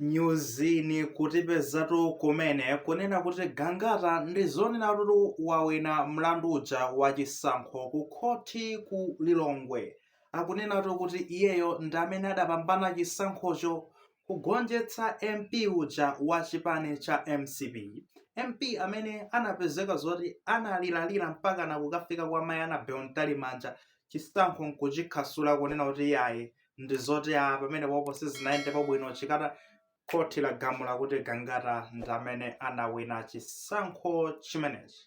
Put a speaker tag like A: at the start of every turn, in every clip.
A: nyuzi ikutipezatu kumene kunena kuti gangata ndi zonena kuti wawina mlandu uja wa chisankho ku khoti ku lilongwe akunenatu kuti iyeyo ndi amene adapambana chisankhocho kugonjetsa mp uja wa chipani cha mcp mp amene anapezeka zoti analiralira mpaka nakukafika kwa mayi anabel mtalimanja chisankho nkuchikhasula kunena kuti iyayi ndi zoti apa mmene pompo sizinayendepo bwino chikhala khoti lagamula kuti gangata ndi amene anawina chisankho chimenechi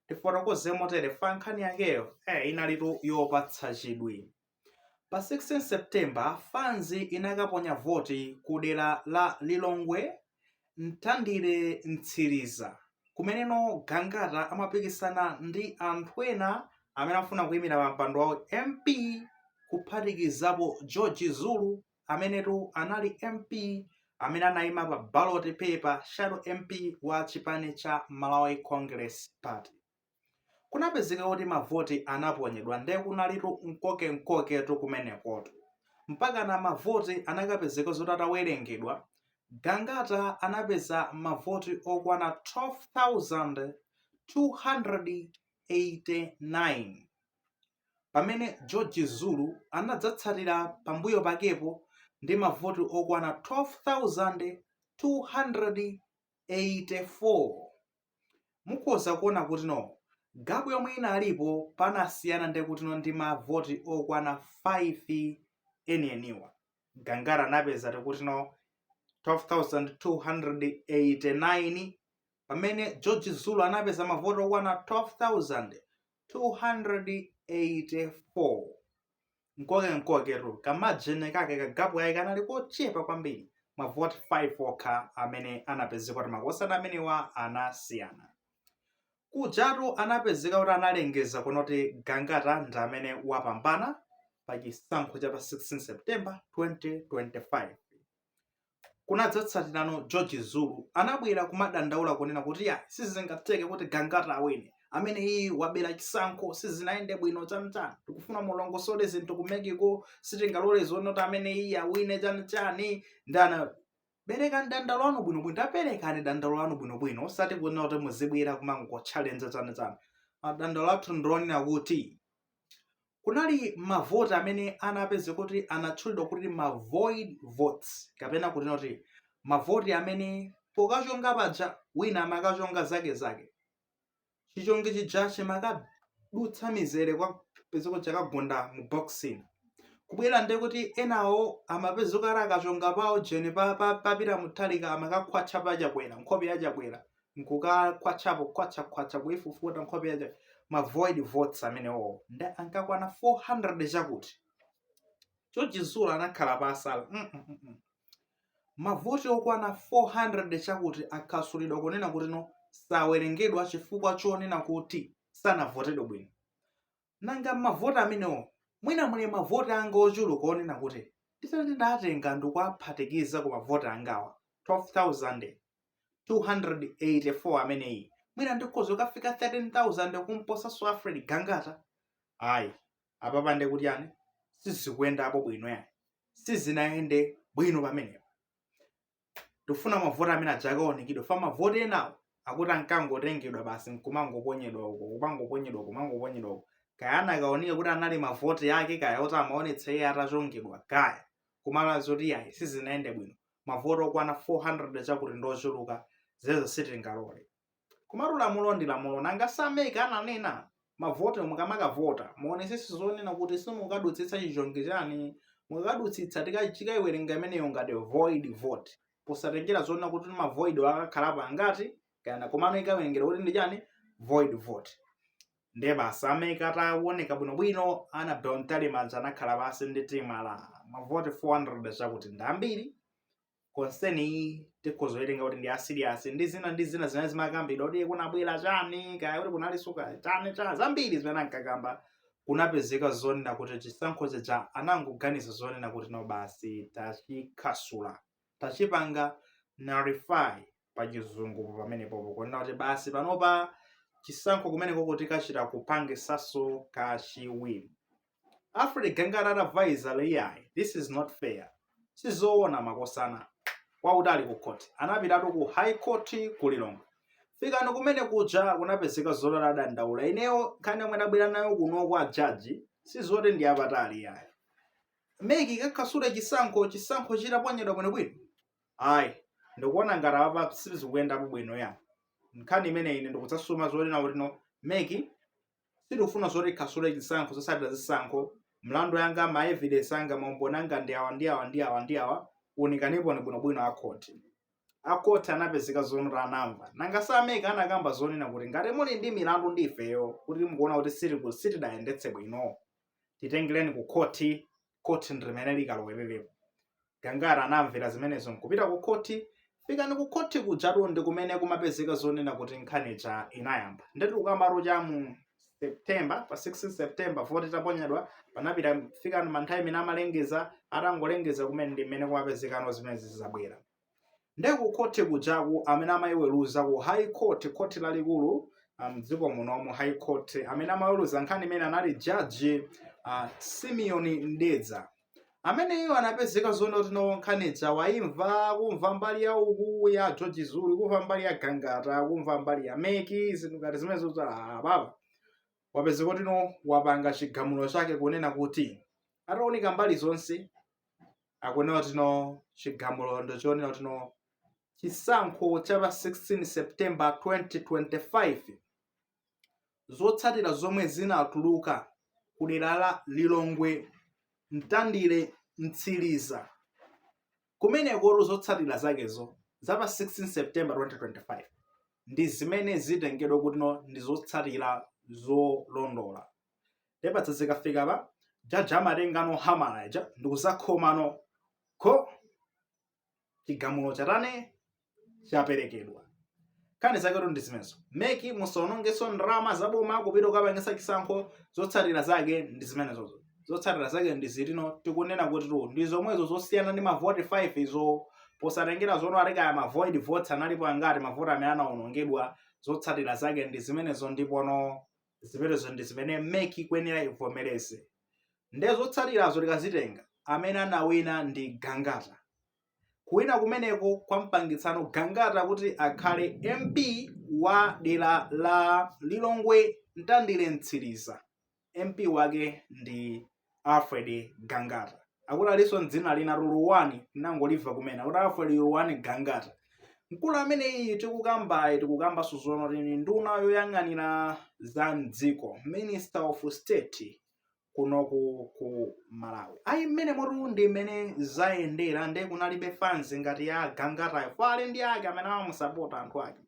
A: tifotokoze motere fanzi nkhani yakeyo eh, inalitu yopatsa chidwi pa 16 september fanzi inakaponya voti ku dera la lilongwe Mtandire Mtsiriza, kumeneko Gangata amapikisana ndi anthu ena amene akufuna kuimira pampando wa MP kuphatikizapo George Zulu amenetu anali MP amene anaima pa ballot paper shadow MP wa chipani cha Malawi Congress Party. kunapezeka kuti mavoti anaponyedwa nde kunalitu mkoke-mkoketu kumenekotu mpakana mavoti anakapezeka zoti atawelengedwa Gangata anapeza mavoti okwana 12,289 pamene George Zulu anadzatsatira pambuyo pakepo ndi mavoti okwana 12,284 mukhoza kuona kutino gapu yomwe inalipo panasiyana nde kutino ndi mavoti okwana 5 enieniwa gangata anapeza tikutino 12289 pamene george zulu anapeza mavoti okwana 12284 mkoke mkoketu kamajini kake kagapu kake kanali kochepa kwambiri mavoti 5 okha amene anapezeka kuti makosana amenewa anasiyana kujatu anapezeka kuti analengeza kunena kuti gangata ndi amene wapambana pa chisankho cha pa 16 september 2025 kunadzatsatirano george zulu anabwera kumadandaula kunena kuti iyayi sizingatheke kuti gangata awine ameneyi wabera chisankho sizinayende bwino chanichani tikufuna mulongosole zinthu ku mec-ko sitingalole zonena kuti ameneyi awine chanichani nde anati perekani madandaulo anu bwinobwino taperekani madandaulo anu bwinobwino osati kunena kuti muzibwera kumangotchalenza chanichani madandaulo athu ndi onena kuti kunali mavoti amene anapezeka kuti anatchulidwa kuti ma void votes kapena kuti tinene kuti mavoti amene pokachonga paja wina amakachonga zake zake chichongi chija chimakadutsa mizere kupezeka chakagunda mu box ina kubwerera nde kuti enawo amapezeka ati akachonga pawo jeni pa Peter Mutharika amakakhwatcha pa chakwera nkhope ya chakwera nkukakhwatchapo khwatchakhwatcha kuifufuta nkhope yake ma void votes amenewowo nde ankakwana 400 chakuti cha chizungu anakhala pansi mm -mm -mm. mavoti okwana 400 chakuti afasulidwa kunena kuti no sawerengedwa chifukwa chonena kuti sanavotedwe bwino Nanga m'mavoti amenewo mwina muli mavoti angawo ochuluka onena kuti nditati ndatenga nkuwaphatikiza ku mavoti angawa 12,284 ameneyi mwina ndikhoza kukafika 13,000 kumposanso Alfred Gangata? Ayi, apapa nde kuti yani sizikuyendapo bwino yani sizinayende bwino pamenepo. tikufuna mavoti amene aja akaunikidwe fa mavoti enawo akuti ankangotengedwa basi nkumangoponyedwa uko kumangoponyedwa uko kumangoponyedwa uko kaya anakaunika kuti anali mavoti ake kaya oti amaonetsa iye atachongedwa kaya koma lazoti yayi sizinayende bwino mavoti okwana 400 chakuti ndiochuluka zedi sitingalole Komatu lamulo ndi lamulo nanga si a MEC ananena mavote mukamakavota muonetsetse zonena kuti simukukadutsitsa chichongi chani mukakadutsitsa tikaiwerenga imeneyo ngati void vote posatengera zonena kuti ma void wo akakhalapo angati kaya komano ikawerengedwa kuti ndi chani void vote ndiye basi a MEC ataunika bwinobwino Annabel Mtalimanja anakhala pansi ndi timu ah mavote 400 chakuti ndi ambiri concern iyi tikhoza kuitenga kuti ndi ya serious ndi zina ndi zina zimene zimakambidwa kuti kunabwera chani kaya kuti kunalinso kaya chani chani zambiri zimene ankakamba kunapezeka zonena kuti chisankho chija anangoganiza zonena kuti no basi tachifasula tachipanga nullify pa chizungu pamenepopo kunena kuti basi panopa chisankho kumeneko tikachita kupangitsaso kachiwiri Alfred Gangata anavekera iyayi this is not fair sizoona makosana wa utali ku court anapitatu ku high court ku lilongwe kufika kumene kuja kunapezeka zoti adandaula ineyo nkhani yomwe ndabwera nayo kuno kwa jaji sizoti ndiyapatali iyayi meki kafasule chisankho chisankho chitaponyedwa bwinobwino ayi ndikuona ngati apa sizikuyendapo bwino ya nkhani imene ine ndikudzasuma zonena kuti no meki sitikufuna zoti khasule chisankho zosatira zisankho mlandu wanga ma evidence anga maumboni anga ndi awa ndi awa ndi awa ndi awa unikaniponi bwinobwino akhoti akhoti anapezeka zonati anamva nanga a mec anakamba zonena kuti ngati muli ndi milandu ndi ifeyo kuti mukuona kuti sitiku- sitidayendetse bwino titengereni ku khoti khoti ndi limene likalowererepo gangata anamvera zimenezo nkupita ku khoti fikani ku khoti kujatu ndi kumene kumapezeka zonena kuti nkhani ija inayamba ndetu tikukambatu cha mu september pa 16 september voti itaponyedwa panapita fikani manthawi imene amalengeza atangolengeza kumene ndi mmene kumapezekano zimenezi zabwera Nde ku court kujaku amene amayiweluza ku high court, court lalikulu mdziko munomu high court amene amaweluza nkhani imene anali judge uh, Simeon Mdedza ameneyo anapezeka zonena kuti no nkhani ija wayimva kumva mbali ya uku ya George Zulu kumva mbali ya Gangata kumva mbali ya Meki zinthu ngati zimenezo tsa ah, baba wapezeka kuti no wapanga chigamulo chake kunena kuti ataunika mbali zonse akunena kuti no chigamulo ndachionera kuti no chisankho cha pa 16 september 2025 zotsatira zomwe zinatuluka ku dera la lilongwe mtandire mtsiriza kumenekotu zotsatira zakezo za pa 16 september 2025 ndi zimene zitengedwa kuti no ndi zotsatira zolondola ndepatsa zikafika pa jaji amatengano hamala ija ndikuzakhomano kho chigamulo chatane chaperekedwa nkhani zaketu ndi zimenezo meki musaonongeso ndalama zaboma kupita kukapangisa chisankho zotsatira zake ndi zimenezozo zotsatira zake ndi izi no tikunena kuti tu ndi zomwezo zosiyana ndi mavoti 5 izo posatengera zonati kaya mavoid votes analipo angati mavoti amene anaonongedwa zotsatira zake ndi zimenezo ndipono zimenezo ndi zimene mec ikuyenera ivomereze nde zotsatirazo tikazitenga amene anawina ndi gangata kuwina kumeneko kwampangitsano gangata kuti akhale mp wa dera la lilongwe mtandire mtsiriza mp wake ndi alfred gangata akuti alinso ndi dzina lina luluwani nangolimva kumene kuti alfred luluwani gangata mkulu ameneyi tikukambaye tikukambanso zonati ndi nduna yoyang'anira za mdziko minister of state kunoku ku malawi ayi mmenemotu ndi mmene zayendera nde kunalibe fanzi ngati ya gangatayo ma friend ake amene amamusapota anthu ake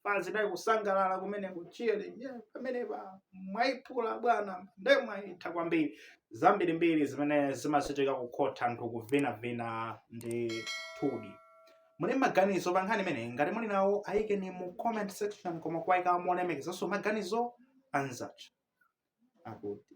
A: panali kusangalala kumeneko cheering yeah, pamenepa mwayiphula abwana nde mwayitha kwambiri zambirimbiri zimene zimachitika kukhotha anthu kuvinavina ndithudi muli maganizo pa nkhani imeneyi ngati muli nawo ayikeni mu comment section koma kuwayika molemekezanso maganizo anzacho akuti